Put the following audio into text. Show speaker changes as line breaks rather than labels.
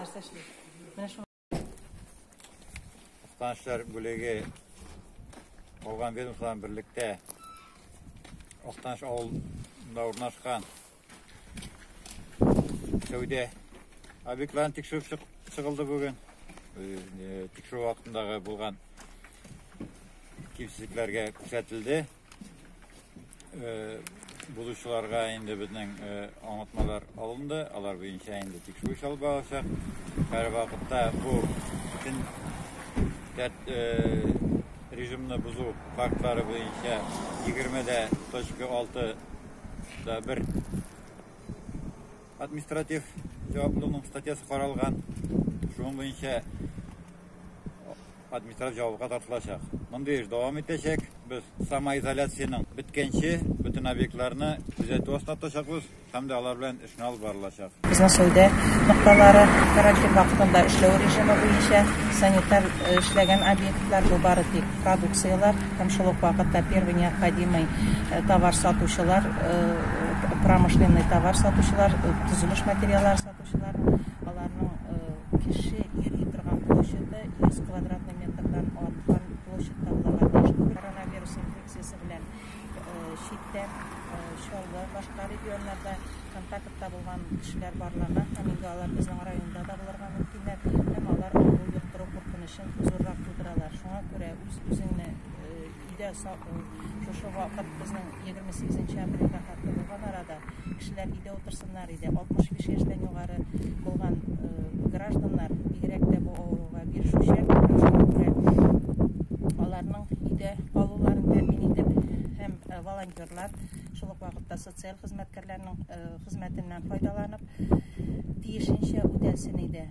Нәрсә эшли? Менә шул. Станцияләр бүлеге калган ведомстволардан берлектә Актаныш авылында урнашкан сәүдә объектларын тикшереп чыгылды бүген. Тикшерү вакытындагы булган кимсезлекләргә күрсәтелде. Э, булучыларга инде безнең э, аңлатмалар алынды, алар буенча инде тикшерү алып барачак. Һәр вакытта бу бөтен э, режимны бозу фактлары буенча 20 дә точка 6 да бер Административ җаваплылыкның статьясы каралган, шуның буенча административ җавапка тартылачак. Мондый эш дәвам итәчәк. Без самоизоляциянең беткәнче бөтен объектларны күзәтү астына тотачакбыз һәм дә алар белән эшне алып барылачак. Безнең сәүдә нокталары карантин вакытында эшләү режимы буенча санитар эшләгән объектлар, бу бары тик продукцияләр. Һәм шул ук вакытта первый необходимый товар сатучылар, промышленный товар сатучылар, төзелеш материаллары сатучылар, аларның кеше йөри торган площаде 100 квадратный метрдан арткан площадьта булырга тиеш түгел. Коронавирус инфекциясе белән читтә, Чаллы, башка регионнарда контактта булган кешеләр барларга һәм инде алар безнең районда да булырга мөмкиннәр һәм алар авыру йоктыру куркынычы. Зуррак тудыралар. Шуңа күрә үз үзеңне өйдә саклый. Шушы вакыт безнең 28 апрельгә хәтле булган арада кешеләр өйдә утырсыннар иде. 65 яшьтән югары булган гражданнар бигрәк тә бу авыруга бирешүчән. Шуңа күрә аларның өйдә калуларын тәэмин итеп һәм волонтерлар шул ук вакытта социаль хезмәткәрләрнең хезмәтеннән файдаланып тиешенчә үтәсен иде.